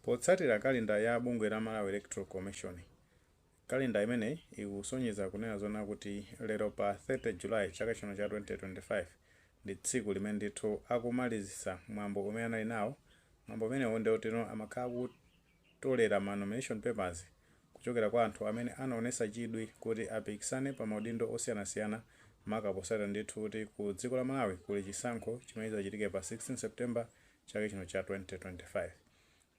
Potsatira kalenda ya bungwe la Malawi Electoral Commission, kalenda imeneyi ikusonyeza kunena zoona kuti lero pa 30 July chaka chino cha 2025 ndi tsiku limene ndithu akumalizitsa mwambo umene anali nawo, mwambo umenewu ndi woti no amakhala akutolera ma nomination papers kuchokera kwa anthu amene anaonetsa chidwi kuti apikisane pa maudindo osiyanasiyana maka potsatira ndithu kuti ku dziko la Malawi kuli chisankho chimene chidzachitike pa 16 September chaka chino cha 2025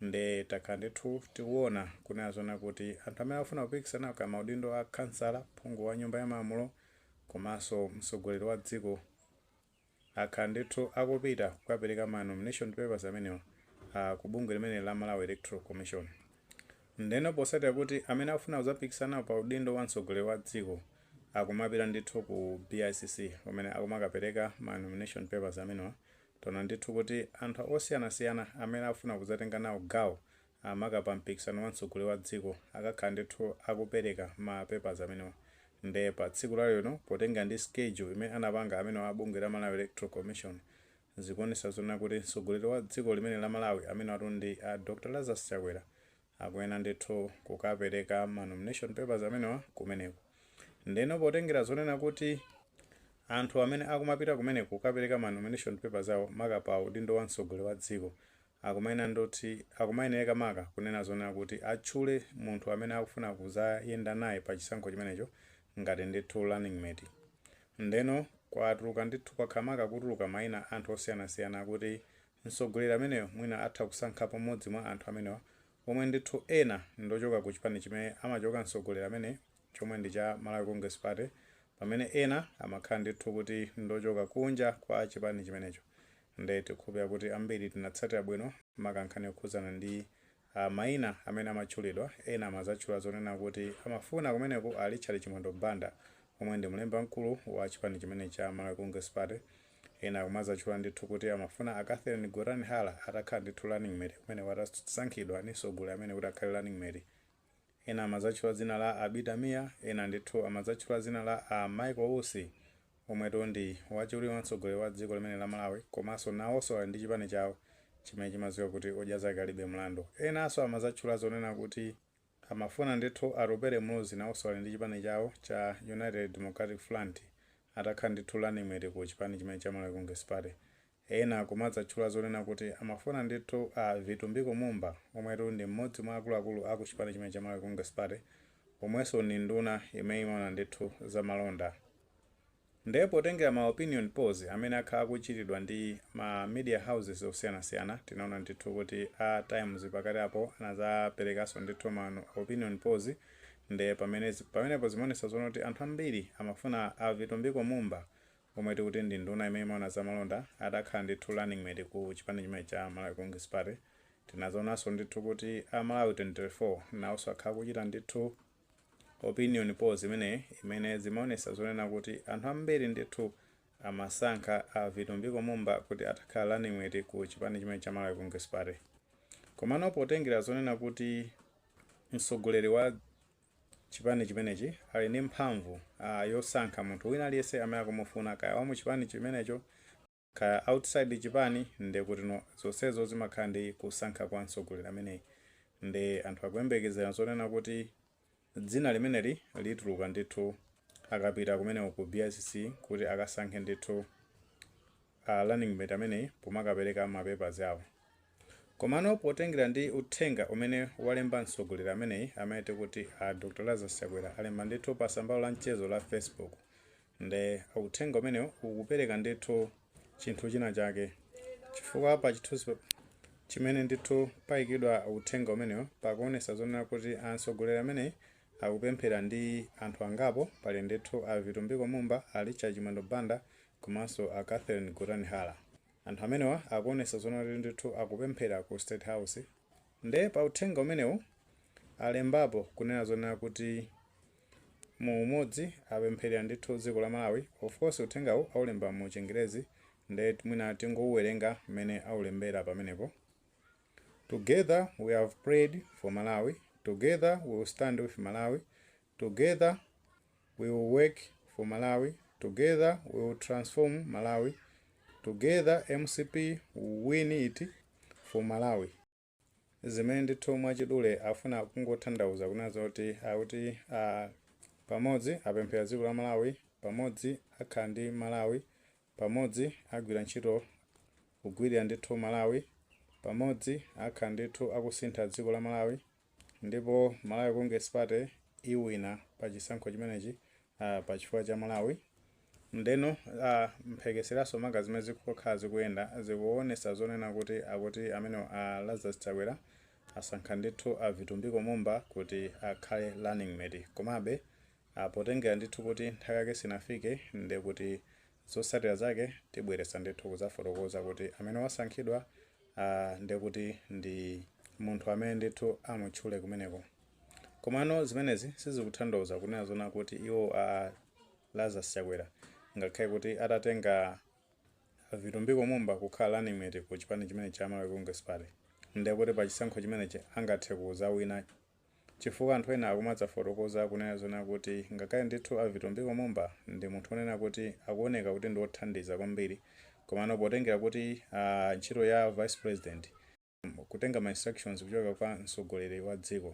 nde takhala ndithu tikuona kunena zona kuti anthu amene akufuna kupikisana pa maudindo a khansala, phungu wa nyumba ya malamulo komanso mtsogoleri wa dziko akhala ndithu akupita kukapereka ma nomination papers amenewa ku bungwe limeneli la Malawi Electoral Commission. Ndeno posatira kuti amene akufuna kuzapikisana pa udindo wa mtsogoleri wa dziko akumapita ndithu ku BICC kumene akumakapereka ma nomination papers amenewa Taona ndithu kuti anthu osiyanasiyana amene akufuna kudzatenga nawo gawo maka pa mpikisano wa mtsogoleri wa dziko akhala ndithu akupereka ma papers amenewa nde pa tsiku la lero potengera ndi schedule imene anapanga amenewa a bungwe la Malawi Electoral Commission zikuonetsa zonena kuti mtsogoleri wa dziko limeneli la Malawi amenewatu ndi a Dr Lazarus Chakwera akuyenera ndithu kukapereka ma nomination papers amenewa kumeneko. Ndeno potengera zonena kuti anthu amene akumapita kumeneko kukapereka ma nomination papers awo maka pa udindo wa mtsogoleri wa dziko akumayenera ndoti akumayenereka maka kunena zonena kuti atchule munthu amene akufuna kuzayenda naye pa chisankho chimenecho ngati ndithu running mate. Ndeno kwatuluka ndithu kwakhala maka kutuluka maina a anthu osiyanasiyana kuti Mtsogoleri ameneyo mwina atha kusankhapo mmodzi mwa anthu amenewa omwe ndithu ena ndochoka ku chipani chimene amachoka mtsogoleri ameneyi chomwe ndi cha Malawi Congress Party pamene ena amakhala ndithu kuti ndochoka kunja kwa chipani chimenecho nde tikukhulupilira kuti ambiri tinatsatira bwino maka nkhani yokhudzana ndi maina amene amatchulidwa, ena amazatchula zonena kuti amafuna kumeneko a Richard Chimwendo Banda omwe ndi mlembi wamkulu wa chipani chimenechi cha Malawi Congress Party, ena akumazatchula ndithu kuti amafuna a Catherine Gotani-Hara atakhala ndithu running mate kumeneko atasankhidwa ndi mtsogoleri amene kuti akhale running mate Ena amadzatchula dzina la a Abida Mia, ena ndithu amadzatchula dzina la a Michael Usi omwetu ndi wachiwiri wa mtsogoleri wa dziko limeneli la Malawi komanso nawoso ali ndi chipani chawo chimene chimadziwika kuti odya zake alibe mlandu. Enaso amadzatchula zonena kuti amafuna ndithu Atupele Muluzi nawoso ali ndi chipani chawo cha United Democratic Front atakhala ndithu running mate ku chipani chimene cha Malawi Congress Party. Ena akumadzatchula zonena kuti amafuna ndithu a Vitumbiko Mumba omwe ndi m'modzi mwa akuluakulu a ku chipani chimene cha Malawi Congress Party omwenso ndi nduna imene imaona ndithu za malonda. Nde potengera ma opinion polls amene akhala akuchitidwa ndi ma media houses osiyanasiyana tinaona ndithu kuti a Times pakati apo anadzaperekanso ndithu ma opinion polls nde pamene pamenepo zimaonetsa zonena kuti anthu ambiri amafuna a Vitumbiko Mumba omwe tikuti ndi nduna imene imaona za malonda, atakhala ndithu running mate ku chipani chimenechi cha Malawi Congress Party. Tinadzaonanso ndithu kuti a Malawi 24 nawonso akhala akuchita ndithu opinion polls imeneyi imene zimaonesa zonena kuti anthu ambiri ndithu amasankha a Vitumbiko Mumba kuti atakhala running mate ku chipani chimenechi cha Malawi Congress Party. Komano potengera zonena kuti mtsogoleri wa Chipani chimenechi ali ndi mphamvu yosankha munthu wina aliyense amene akumufuna kaya wamu chipani chimenecho kaya outside chipani ndekutino zonsezo zimakhala ndi kusankha kwa mtsogoleri ameneyi nde anthu akuyembekezera zonena kuti dzina limeneli lituluka ndithu akapita kumeneko ku BICC kuti akasankhe ndithu running mate ameneyi pomakapereka ma papers awo. Komano potengera ndi uthenga umene walemba mtsogoleri ameneyi amene tikuti a Dr Lazarus Chakwera alemba ndithu pa tsamba lawo la mchezo la Facebook nde uthenga umenewu ukupereka ndithu chinthu china chake chifukwa pa chithunzi chimene ndithu payikidwa uthenga umenewu pakuonesa zonena kuti a mtsogoleri ameneyi akupemphera ndi anthu angapo pali ndithu a Vitumbiko Mumba, a Richard Chimwendo Banda komanso a Catherine Gotani Hara. Anthu amenewa akuonesa zonena kuti ndithu akupemphera ku state house nde pa uthenga umenewu alembapo kunena zonena kuti mu umodzi apempherera ndithu dziko la Malawi of course uthengawu aulemba mu chingerezi nde mwina tingouwerenga mmene aulembera pamenepo Together we have prayed for Malawi, together we will stand with Malawi, Together we will work for Malawi, together we will transform Malawi, together mcp will win it for Malawi. Zimene ndithu mwachidule afuna kungotanthauza kunena zoti akuti pamodzi apemphera dziko la Malawi, pamodzi akhala ndi Malawi, pamodzi agwira ntchito kugwirira ndithu Malawi, pamodzi akhala ndithu akusintha dziko la Malawi. Ndipo Malawi Congress Party iwina pa chisankho chimenechi uh, pa chifukwa cha Malawi ndeno uh, mphekeseranso maka zimene zakhala zikuyenda zikuonesa zonena kuti akuti amene uh, Lazarus Chakwera asankha ndithu a Vitumbiko Mumba kuti akhale running mate komabe uh, potengera ndithu kuti nthawi yake sinafike nde kuti zotsatira zake tibweranso ndithu kuzafotokoza kuti amene wasankhidwa Ha, nde kuti ndi munthu amene ndithu amutchule kumeneko. Komano zimenezi sizikutanthauza kunena zona kuti iwo a Lazarus Chakwera ngakhale kuti atatenga Vitumbiko Mumba kukhala running mate ku chipani chimene cha Malawi Congress Party ndiye kuti pa chisankho chimenechi angathe kuzawina Chifukwa anthu ena akumadzafotokoza kunena zonena kuti ngakhale ndithu a Vitumbiko Mumba ndi munthu onena kuti akuoneka kuti ndi othandiza kwambiri komano potengera kuti ntchito ya vice president nkutenga ma instructions kuchoka kwa mtsogoleri wa dziko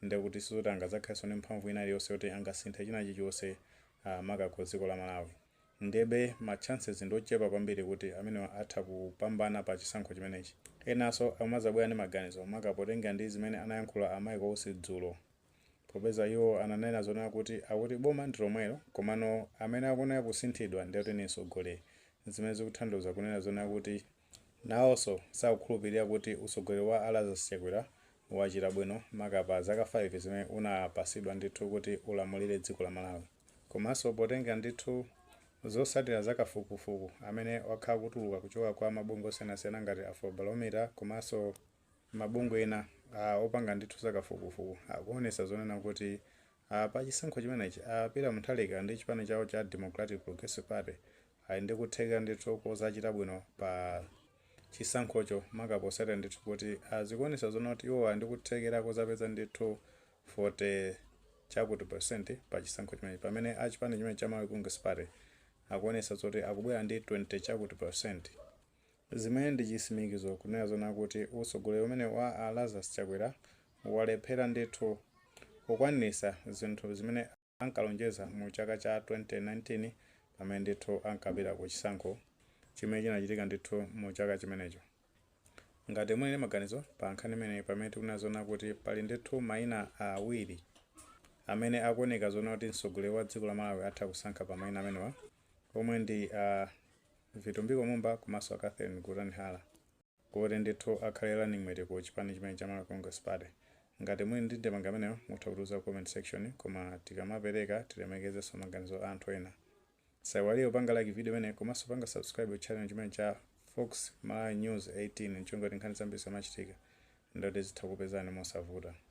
nde kuti sizoti angadzakhalenso ndi mphamvu ina iliyonse yoti angasinthe china chilichonse maka ku dziko la Malawi. Ndebe ma chances ndi ochepa kwambiri kuti amenewa atha kupambana pa chisankho chimenechi. Enaso akumazabwera ndi maganizo maka potengera ndi zimene anayankhula a Michael Usi dzulo. Popeza iwo ananena zonena kuti akuti boma ndi lomwero komano amene akuoneka kusinthidwa nde akuti ndi mtsogoleri zimene zikutanthauza kunena zonena kuti Nawoso sakukhulupilira kuti utsogoleri wa a Lazarus Chakwera wachita bwino maka pa zaka 5 zimene unapatsidwa ndithu kuti ulamulire dziko la Malawi. Komaso potengera ndithu zotsatira za kafukufuku amene wakhala akutuluka kuchoka kwa mabungwe osiyanasiyana ngati Afrobarometer komaso mabungwe ena opanga ndithu za kafukufuku akuwonetsa zonena kuti Aaa pa chisankho chimenechi a Peter Mutharika ndi chipani chawo cha Democratic Progressive Party ali ndi kuthekera ndithu kozachita bwino pa chisankhocho maka potsatira ndithu kuti zikuonetsa zonena kuti iwowa ali ndi kuthekera kozapeza ndithu 40 chakuti percent pa chisankho chimenechi pamene a chipani chimene cha Malawi Congress Party akuonetsa zoti akubwera ndi 20 chakuti percent Zimene ndi chisimikizo kunena zona kuti utsogoleri umenewu wa a Lazarus Chakwera walephera ndithu kukwaniritsa zinthu zimene ankalonjeza mu chaka cha 2019 pamene ndithu ankapita ku chisankho chimene chinachitika ndithu mu chaka chimenecho. Ngati muli ndi maganizo pa nkhani imeneyi pamene tikunena zona kuti pali ndithu maina awiri amene akuoneka zona kuti mtsogoleri wa dziko la Malawi atha kusankha pa maina amenewa, omwe ndi a Vitumbiko Mumba komanso a Catherine Gotani Hara kuti ndithu akhale running mate ku chipani chimene cha Malawi Congress Party. Ngati muli ndi ndemanga imeneyo mutha kutiuza ku comment section koma tikamapereka tilemekezenso maganizo a anthu ena. Musaiwalenso kupanga like video imeneyi komanso kupanga subscribe ku channel chimene cha Fox Malawi News 18 ncholinga kuti nkhani zambiri zikamachitika ndithu zitha kupezani mosavuta.